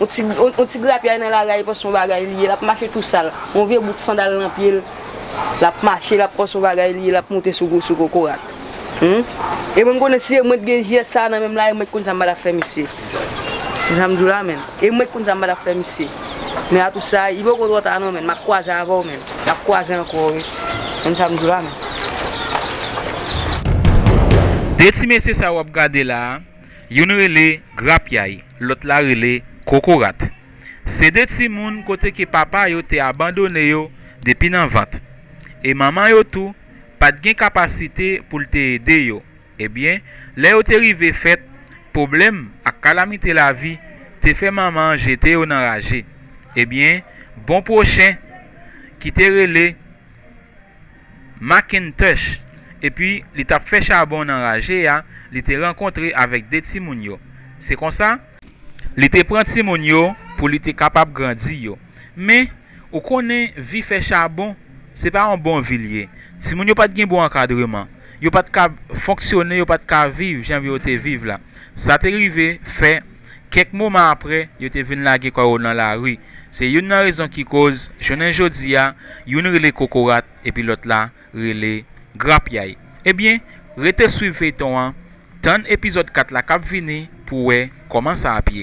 On ti grapyay nan lari a li panse son bagay li ye lap mache tou sal, on vye bout sandal nan pye l lap mache lap panse son bagay li ye lap monte sou kokorat humm e mwen m konnen si e mwen t gen jès sa nan menm la e mwen t konn sa m pa tap fè misye konn sa m di w la menn e mwen t konn sa m pa tap fè misye men a tou sa li poko twò ta non menn map kwaze avè w menn nap kwaze ankò wi konn sa m di w la menn. De ti mesye sa wap gade la Youn rele grapyay, lòt la rele kokorat. Se de timoun kote ke papa yo te abandone yo depi nan vant. E manman yo tou pa t gen kapasite pou l te ede yo. Ebyen, lè yo te rive fèt, pwoblèm ak kalamite lavi te fè manman an jete yo nan raje. Ebyen, bon pwochen ki te rele Macintosh, epi li t ap fè chabon nan raje a, li te rankontre avèk de timoun yo. Se konsa. Li te pran timoun yo pou li te kapab grandi yo. Men, ou konnen, vi fè chabon, se pa yon bon vi l ye. Timoun yo pa t gen bon ankadreman. Yo pa t ka fonksyone, yo pa t ka viv jan yo te viv la. Sa te rive fè. Kèk moman apre, yo te vin lage kò yo nan lari. Se youn nan rezon ki koz, jounen jodi a, youn rele Kokorat epi lòt la rele Grapyay. Ebyen, rete swiv feyton an, tann epizòd 4 la k ap vini pou w wè kòman sa ap ye.